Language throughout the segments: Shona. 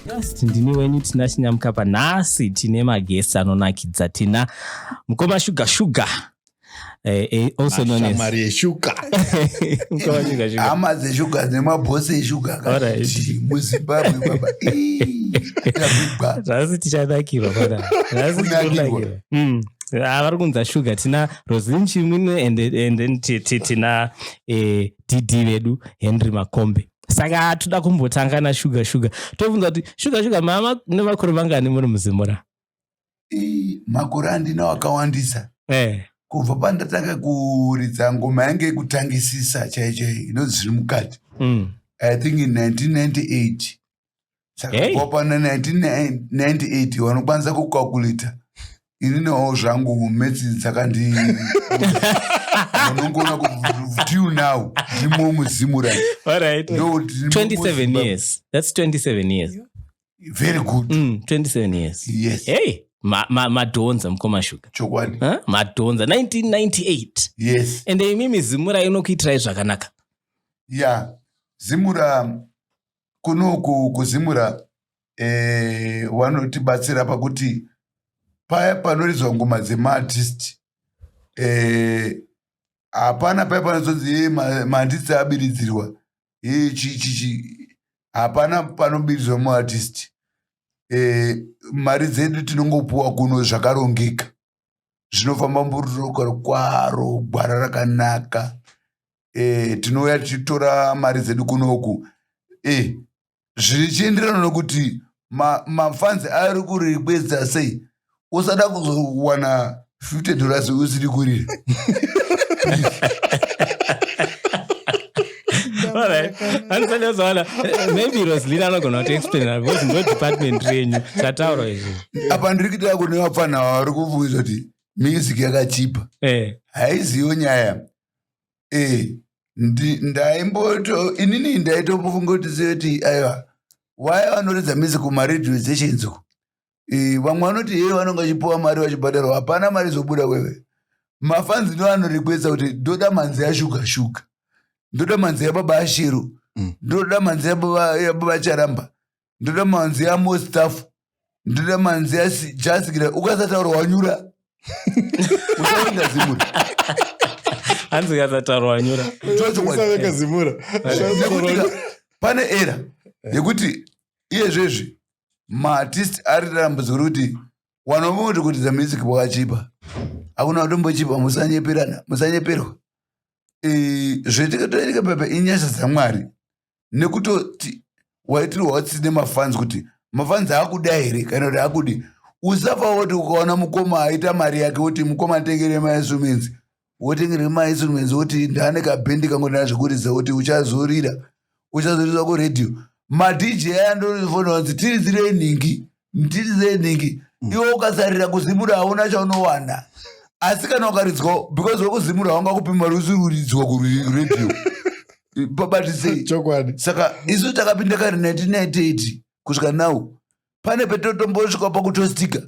Just ndini wenyu tina chinyamukapa nhasi tine magesi anonakidza tina mukoma shuga shuga Eh, eh, also known as mashamwari eshuga Mukawanyika shuga. hama dzeshuga nemabhosi eshuga Alright. akati muzimbabwe baba ii, ndavigwa. Nhasi tichanakirwa pana. Nhasi Kunakirwa. tikunakirwa. Mm. Ah, vari kunza shuga tina roslin chimwine and, and then ti- ti- tina eh, dd vedu henry makombe saka toda kumbotanga nashuga shuga tobvunza kuti shuga shuga mama nemakore vangani muri muzimura makore andinawo akawandisa eh. kubva pandatanga kuridza ngoma yange yekutangisisa chai chai inonzi zviri mukati mm. i think in 1998 saka kubva pana 1998 wanokwanisa kukakulita ini nawo zvangu metsi dzakandi unongoona kutil now ndimo muzimu right 27 years that's 27 years very good mm, 27 years yes hey madhonza ma, ma mukoma shuga chokwadi huh? madhonza 1998 yes and imimi zimura inokuitirai zvakanaka ya yeah. zimura kunoku kuzimura eh, wanotibatsira pakuti paya panoridzwa ngoma dzemaartist eh, hapana paya panozonzi ye maartist abiridzirwa hapana panobidzwa muartist eh, mari dzedu tinongopuwa kuno zvakarongeka zvinofamba mbururukaro kwaro gwara rakanaka eh, tinouya tichitora mari dzedu kunoku eh, zvichienderana nokuti mafanzi ayo ari kurikweza sei usada kuzowana 50 dollars usiri kurira maybe roslina anogona kuti explain because ndo department renyu zvataurwa izvi apa ndiri kuita kune vapfanha vari kubvunza kuti music yakachipa eh. haiziwo nyaya eh ndaimboto inini ndaitofunga kuti zive kuti aiwa waya vanoridza mizi kumaradio stations uko eh, vamwe vanoti yeye vanonge vachipiwa mari vachibhadharwa hapana mari zobuda wewe mafanzi ndo anorikwesa kuti ndoda manzi yashuga shuga ndoda manzi yababa ashiro mm. ndoda manzi yababa charamba ndoda manzi amostaff ndoda manzi ajasikira ukasataura wanyura usaenda zimura hanzi ukasataura wanyura zimura pane era yekuti iyezvezvi maartist ari tarambudziko rekuti wanomuti kuti the music wakachipa hakuna kutombochipa musanyeperana musanyeperwa zvetikatorereka pepe inyasha dzamwari nekutoti waitirwa watsitsi nemafanzi kuti mafanzi akuda here kana kuti akudi usafa woti ukaona mukoma aita mari yake woti mukoma atengere mainstruments wotengere mainstruments woti ndaane kabhendi kangonaa zvekuridza woti uchazorira uchazoriswa kuradio madj aya ndorifonanzi tiridzirei nhingi ndiri zenhingi mm. iwe ukasarira kuzimura hauna chaunowana asi kana ukaridzwa because wekuzimura wanga kupi mari usiriuridzwa kuredio pabatisei chokwadi saka isu takapinda kari 1998 kusvika now pane petotombosvika pakutostika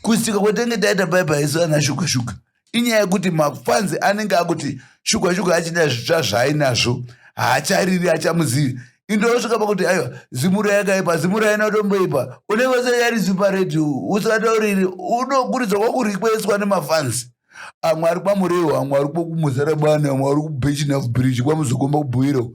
kustika kwatenge taita paipa isu ana shuka shuka inyaya yekuti mafanzi anenge akuti shuga shuga achina zvitsva zvaainazvo haachariri achamuzivi indosvika pakuti aiwa zimura yakaipa zimura inotomboipa unenge usanyarisi paredhi usatauriri unokurudzwa kwakurikweiswa nemafanzi amwe ari kwamurewo amwe ari kwamuzarabani amwe ari kubechinaf bridge kwamuzokomba kubhuiro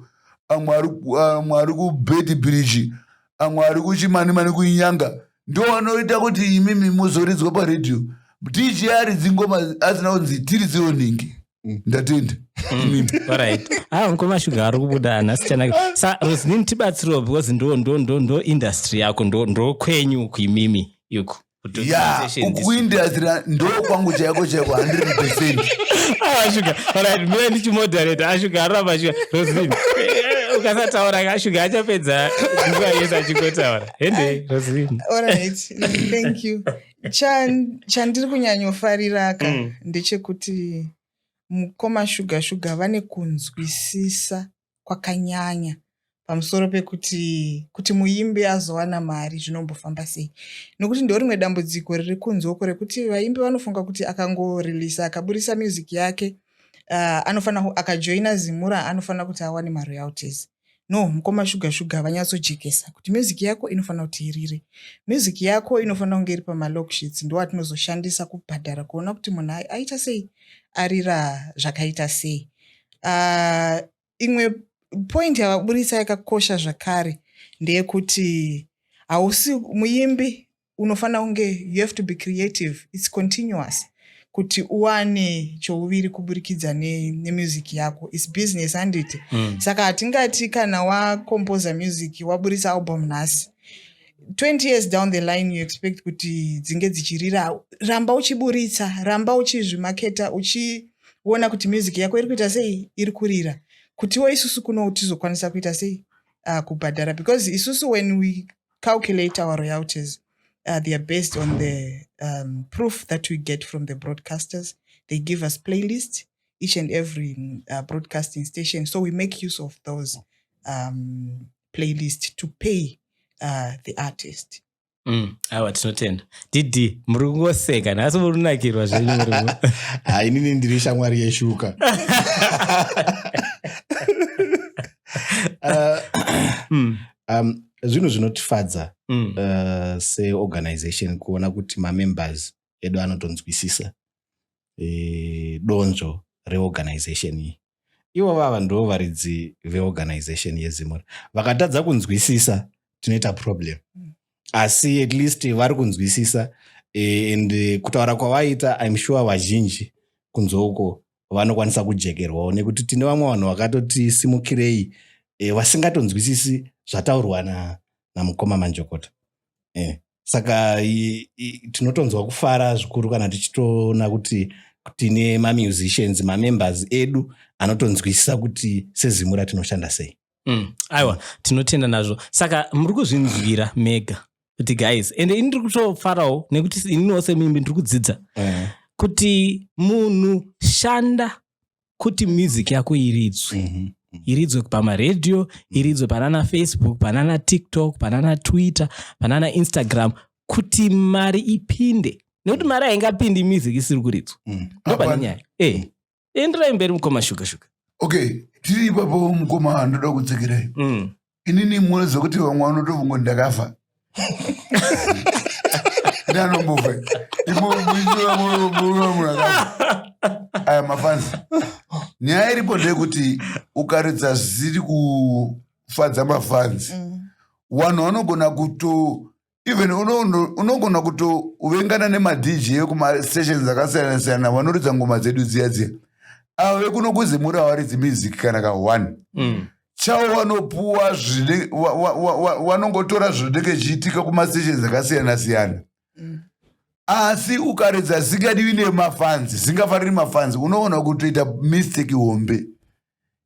amwe ari kubeti bridge amwe ari kuchimanimani kuinyanga ndiwo anoita kuti imimi muzoridzwa paredhiyo dj aridzi ngoma asina kunzi tiri dzionhingi mm. ndatenda mm, ah, mukoma shuga ari kubuda nhasichanake sa rosnin tibatsiriwo because ndo ndo ndo ndo industry yako ndo ndo kwenyu uku imimi yuku ya ukuindastira ndo kwangu chaiko chaiko 100 percent ashuga ah, orit mie ndichimoderata ashuga ah, aramba shuga rosnin ukasataura kashuga achapedza nguva yese achingotaura hende razini Alright, mm, thank you. Chan- chandiri kunyanyofariraka Mm. ndechekuti mukoma shuga shuga vane kunzwisisa kwakanyanya pamusoro pekuti kuti muimbi azowana mari zvinombofamba sei nokuti ndo rimwe dambudziko riri kunzoko rekuti vaimbi vanofunga kuti akangoreleasa akaburitsa music yake uh, anofanira ku- akajoina zimura anofanira kuti awane maroyalties no mukoma shuga shuga vanyatsojekesa kuti music yako inofanira kuti irire music yako inofanira kunge iri pamalocksheets ndo atinozoshandisa kubhadhara kuona kuti munhu aita sei arira zvakaita sei uh, imwe point yavaburitsa yakakosha zvakare ndeyekuti hausi muimbi unofanira kunge you have to be creative its continuous kuti uwane chouviri kuburikidza nemusic ne yako its business handiti mm. saka hatingati kana wacomposer music waburitsa album nhasi 20 years down the line you expect kuti dzinge dzichirira ramba uchiburitsa ramba uchizvimaketa uchiona kuti music yako iri kuita sei iri kurira kutiwo isusu kuno tizokwanisa kuita sei uh, kubhadhara because isusu when we calculate our royalties uh, they are based on the um, proof that we get from the broadcasters they give us playlists each and every mm, uh, broadcasting station so we make use of those um, playlists to pay uh, the artist Mm, awa tinotenda didi muri kungoseka nhasi muri kunakirwa zvenyu ah, inini ndiri shamwari yeshuka uh, mm. um, zvinhu zvinotifadza mm. uh, seorganization kuona kuti mamembers edu anotonzwisisa e, donzvo reorganization iyi ivo vava ndivo varidzi veorganization yezimura vakatadza kunzwisisa tinoita problem mm. asi at least vari kunzwisisa e, and kutaura kwavaita im sure vazhinji kunzouko vanokwanisa kujekerwawo nekuti tine vamwe vanhu vakatoti simukirei e, vasingatonzwisisi zvataurwa na, namukoma manjokota e, saka tinotonzwa kufara zvikuru kana tichitoona kuti tine mamusicians mamembers edu anotonzwisisa kuti sezimu ratinoshanda sei mm. aiwa tinotenda nazvo saka muri kuzvinzwira mega kuti guys ende ini ndiri kutofarawo nekuti ininiwo semimbi ndiri kudzidza eh. kuti munhu shanda kuti music yako iridzwe mm -hmm iridzwe pamaradio iridzwe panana facebook panana tiktok panana twitter panana instagram kuti mari ipinde nekuti mari haingapindi music isiri kuridzwa mm. ndopane nyaya eh. enderai mberi mukoma shuga shuga okay tiri ipapo mukoma anoda kudzokerai mm. inini munoziva kuti vamwe vanotofunga kuti ndakafa ndanombofa aya mafanzi nyaya iripo ndeyekuti ukaridza zvisiri kufadza mafanzi mm. vanhu vanogona kuto even unogona kutovengana nemadj ekumastations akasiyana siyana vanoridza ngoma dzedu dziya dziya avo vekunokuzimura havaridzi music kana ka one mm. chavo vanopuwa zvine vanongotora zvinenge zvichiitika kumastations akasiyana siyana mm. asi ukaridza zingadivi nemafanzi zingafaniri mafanzi unoona kutoita mistake hombe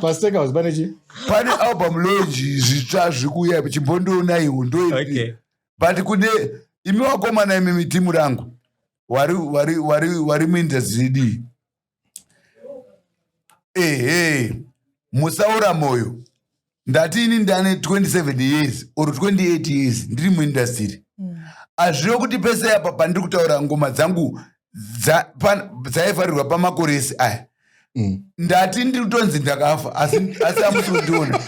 pasteka house pane chi pane album lonji zvitsva zvikuya chimbondionaiwo ndo okay. but kune imi wakomana imi mitimu rangu wari wari wari wari muinda zidii ehe musaora moyo ndati ini ndane 27 years or 28 years ndiri muindastiri mm. azvive kuti pese apa pandiri kutaura ngoma dzangu dzaivharirwa pamakoresi aya mm. ndati ndiri kutonzi ndakafa asi amusi kundiona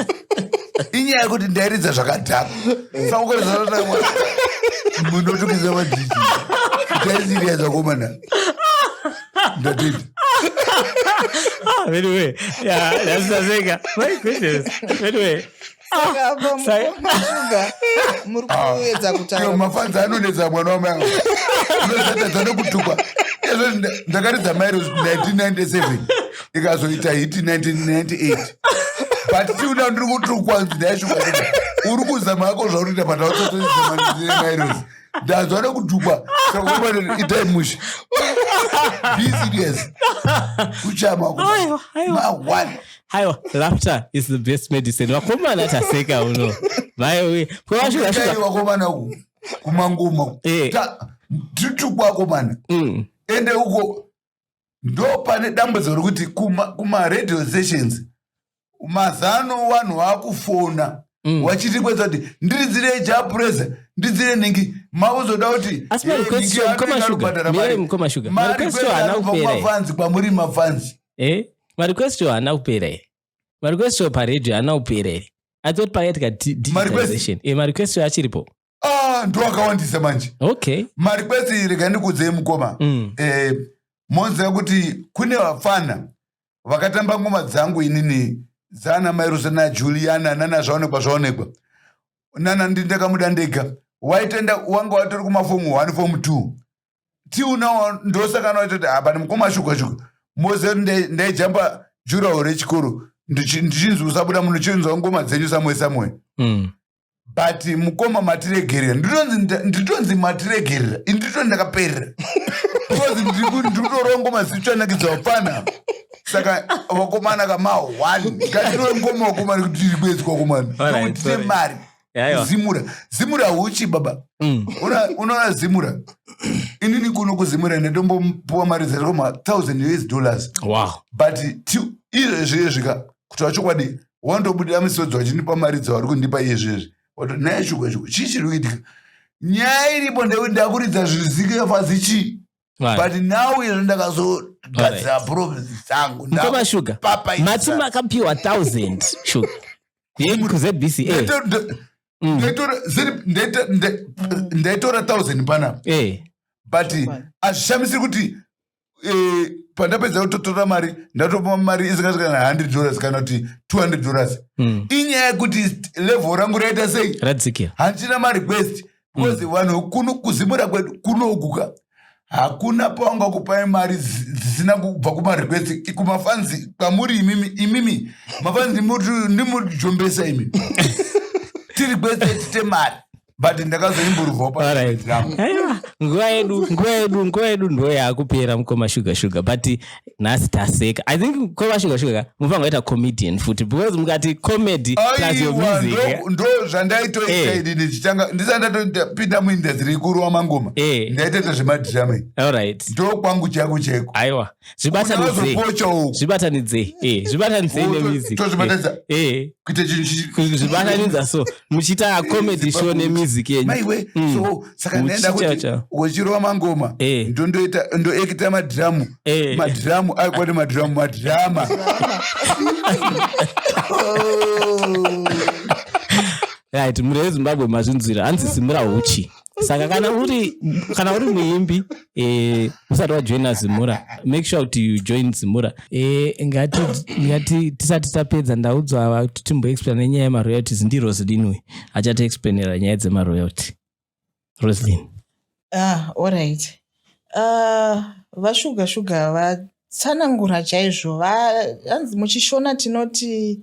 inyaya yekuti ndairidza zvakadhaka sakukoresaaaa munotukisa madhii taisiriya zvakomana ndatiti ah, Anyway, yeah, that's the thing. My goodness. Anyway, saka apa Sai- mukoma shuga muri kuedza Iyo kutaura mafanzi anonetsa mwana wamai angu unozatadza nekutukwa ezvo nda- ndakaridza mairo 1997 ikazoita hiti 1998 but tiuna ndiri kutukwa nzi ndaishuka uri kuzama yako zvauri kuita patausatoiamairos ndanzwa nekutukwa itai mushe be serious kuchama Aiwa, aiwa. mawana haiwa laughter is the best medicine vakomana taseka uno vaiwe kwevasvikakomana uku kumangoma eh. titukuakomana mm. ende uko ndo pane dambudziko rekuti kumaradio kuma stations mazano vanhu vakufona mm. vachiti kweza kuti ndiridzire japureza ndidzire nhingi mauzoda kuti asi marequestobhadhara mari marequesto haana kupera kwamuri mafanzi eh marequest yo haana kupera here marequest yo paradio haana kupera here i thought pakaitika digitization eh marequest yo achiripo ah ndo akawandisa manje okay marequest rega ndikudzei mukoma mm. eh moziva kuti kune vapfana vakatamba ngoma dzangu inini dzaana mairusa najuliana nana zvaonekwa zvaonekwa nana ndindakamuda ndega waitenda wanga watori kumafomu one fomu two till now ndosaka naitoti apa ah, mukoma shuga shuga moze ndaijamba jurawo rechikoro ndichinzi usabuda muno chinzwa ngoma dzenyu samwe samwe mm. but mukoma matiregerera nditonzi matiregerera indito ndakaperera because ndikutorwa ngoma zichanakidzo hapana saka vakomana kama one ngatiro ngoma wakomana kuti tiri kwedzi kwakomana kuti tine mari zimura zimura huchi baba mm. unoona zimura inini kuno kuzimura ndatombopuwa mari dzacho ma thousand us dollars but izvezviyezvika kutaura chokwadi wandobudira misodzi wachinipa mari dzavari kundipa iyezvezvi wato naye shuka shuka chii chiri kuitika nyaya iripo ndekuti ndakuridza zvizikirefazi chii but now ino ndakazogadzira problems dzangu mkoma sugar mati makapiwa 1000 sugar yekuzbca mm. ndaitora 1000 panapa eh. but azvishamisiri kuti eh, pandapedza kutotora mari ndatopa mari isingasvika kana 100 dollars kana kuti 200 dollars mm. inyaya yekuti level rangu raita sei handichina marequest because mm. vanhu kuno kuzimura kwedu kunoguka hakuna pawanga kupai mari dzisina kubva kumarequest kumafanzi kwamuri imimi imimi mafanzi ndimujombesa imi tiri kwese tite mari but ndakazoimburuvawo panguva yedu nguva yedu nguva yedu ndo yakupera mukoma shuga shuga but nhasi taseka i think kwevashuga shuga ka mufanga waita comedian futi because mukati comedy plus your music eh? ndo zvandaitoita eh. ini ndichitanga ndisati ndatopinda muindastry ikuru wamangoma eh. ndaitoita zvemadhirame allright ndo kwangu chako cheko aiwa zvibatanidzei zvibatanidzei nemusic kuita chinhu zvibatanidza so muchiita comedy show nemusic yenyu maiwe mm. so saka ndaenda kuti uchirova mangoma eh. ndondoita ndoekita madhiramu eh. madhiramu ari kwati madhiramu madhirama right mure wezimbabwe mazvinzwira hanzi simura uchi saka kana uri kana uri muimbi eh, usati wajoina zimura make sure kuti you join zimura eh, ngati ngati tisati tapedza ndaudzwa ava kuti timboexplaina nenyaya yemaroyalties ndi roslin uyu achatiexplainera nyaya dzemaroyalty roslin ah, allright ah, vashuga shuga tsanangura chaizvo hanzi muchishona tinoti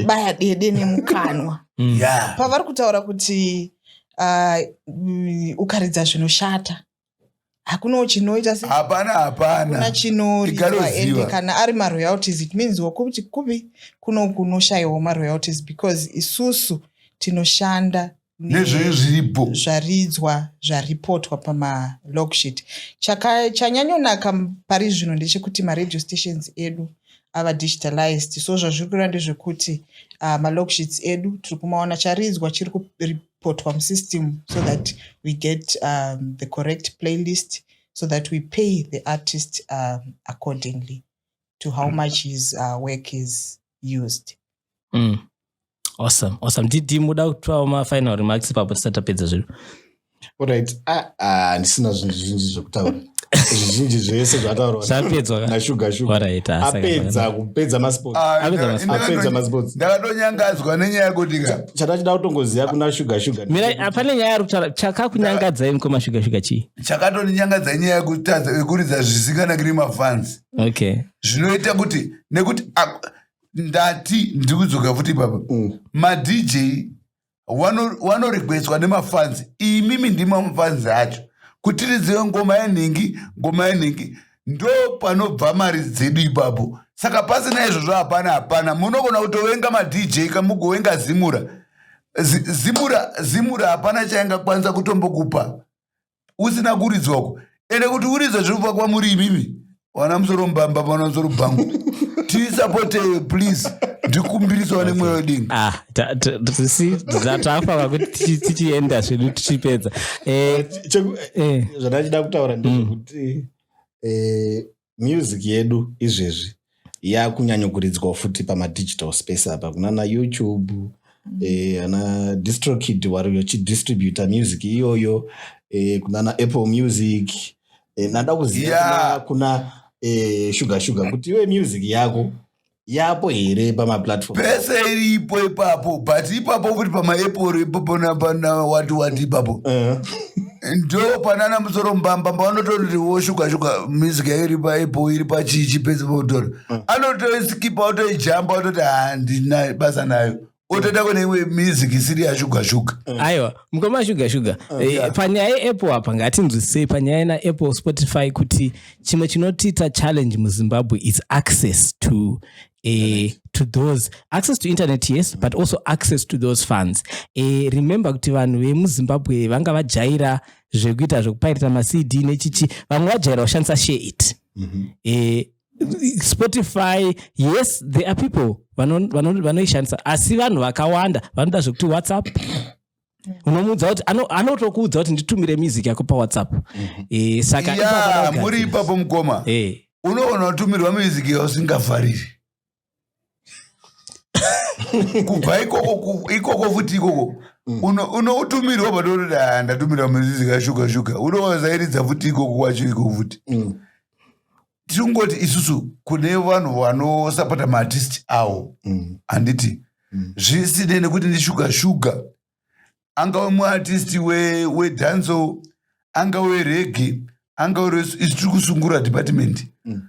baya dede nemukanwa mm. yeah. pavari kutaura kuti uh, ukaridza zvinoshata hakunawo chinoita hapana hapana chinoridwa ende kana ari maroyalties it means wakuti kupi kuno kunoshayiwa maroyalties because isusu tinoshanda nezvee zviripo zvaridzwa zvaripotwa pamalog sheet chanyanyonaka pari zvino ndechekuti maradio stations edu ava digitalized so zvazviri kureva ndezvekuti uh, malog sheets edu tiri kumaona charidzwa chiri kuripotwa musystem so that we get um, the correct playlist so that we pay the artist um, accordingly to how much his uh, work is used mm. awesome awesome didi muda kutwawo mafinal remarks ipapo tisati tapedza zviro orit ah, ah, ndisina zvinhu zvinji zvekutaura zvizhinji zvese zvataurwaapedza kupedza masportsapedza masports ndakatonyangadzwa nenyaya yekuti ka chata chida kutongoziva kuna shuga shuga hapane nyaya ari kutaura chakakunyangadzai mukoma shuga shuga chii chakatondinyangadza inyaya yekuridza zvisinganakiri mafans okay zvinoita kuti nekuti ndati ndiri kudzoka futi ipapa mm. madj wanorequestwa nemafanzi imimi ndima mafanzi acho kutiridziwe ngoma yenhingi ngoma yenhingi ndo panobva mari dzedu ipapo saka pasina izvozvo hapana hapana munogona kutovenga madj kamugovenga zimura zimura zimura hapana chaingakwanisa kutombokupa usina kuridzwa uko ende kuti uridzwa zviri kubva kwamuri imimi wana musoro mbamba pana musoro bhangu tisapote please ndikumbirisawo nemweya wedini ah, tafa kuti tichienda zvedu tichipedza eh, eh, eh. zvandachida kutaura ndezvekuti mm. music yedu izvezvi yakunyanyokuridzwa futi pamadigital space apa kunana youtube mm. eh, ana distrokid wari vachidistributa music iyoyo eh, kunana apple music eh, nada kuziva yeah. kuna, kuna eh, sugar sugar kuti iwe music yako yapo here pamaplatform pese iripo ipapo but ipapo futi pamaeporo ipapo napanawati wati ipapo eh. ndo panana musoro mbamba mbavanotoonoti woshukashuka music yairi paepo iri pachichi pese potora eh. anotoisikipa otoijamba ototi handina basa nayo otoita kune imwe music isiri yashuga shuga mm. aiwa mukoma shuga shuga oh, eh, panyaya yeapple apa ngatinzwisisei panyaya yena apple spotify kuti chimwe chinotiita challenge muzimbabwe is access to Uh, to those access to internet yes but also access to those funds uh, remember kuti vanhu vemuzimbabwe vanga vajaira zvekuita zvekupairita macd nechichi vamwe vajaira kushandisa share it mm -hmm. uh, spotify yes there are people vanoishandisa asi vanhu vakawanda vanoda zvekuti whatsapp unomuudza kuti anotokuudza kuti nditumire music yako pawhatsapp mhm. eh, saka muri ipapo mukoma eh. unoona utumirwa music yausingafariri kubva ikoko ikoko futi ikoko mm. unoutumirwa uno patotoda ah, ndatumirwa muzizi kashuga shuga unozairidza futi ikoko kwacho ikoko futi mm. tingoti isusu kune vanhu vanosapota maartisti awo mm. handiti mm. zvisinei nekuti ndishuga shuga angave muartisti wedanzo we angave regi angave isu tiri kusungura department mm.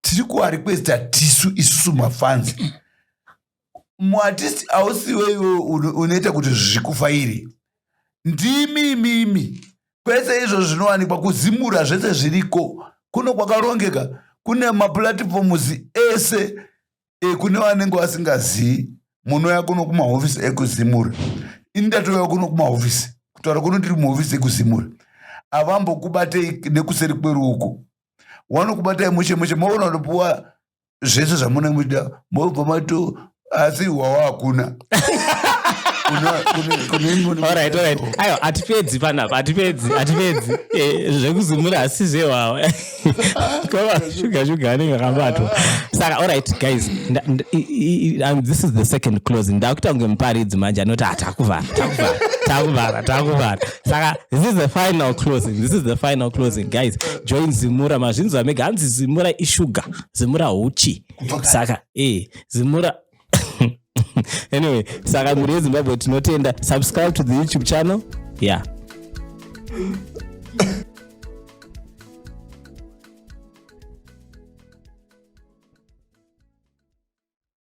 tiri kuvarequesta tisu isusu mafanzi muartisti ausiwe iwe unoita kuti zvikufairi ndimi imimi kwese izvo zvinowanikwa kuzimura zvese zviriko kuno kwakarongeka kune maplatforms ese ekune vanenge vasingazivi munouya kuno kumahofisi ekuzimura ini ndatouya kuno kumahofisi kutaura kuno ndiri muhofisi ekuzimura avambokubatei nekuseri kweruoko wanokubatai mushe mushe maona unopuwa zvese zvamunenge muchida mobva mato asi hwawa hakuna ayo hatipedzi panapa hatipedzi hatipedzi eh, zvekuzumura asi zvewawa shuga shuga anenge akabatwa saka allright guys um, this is the second closing ndakuita kunge muparidzi manje anoti hatakuvhara ah, takuvhara takuvhara takuvhara saka this is the final closing this is the final closing guys join zimura mazvinzwa mega hanzi zimura ishuga zimura huchi saka e zimura anyway saka mhuri yezimbabwe tinotenda subscribe to the youtube channel yeah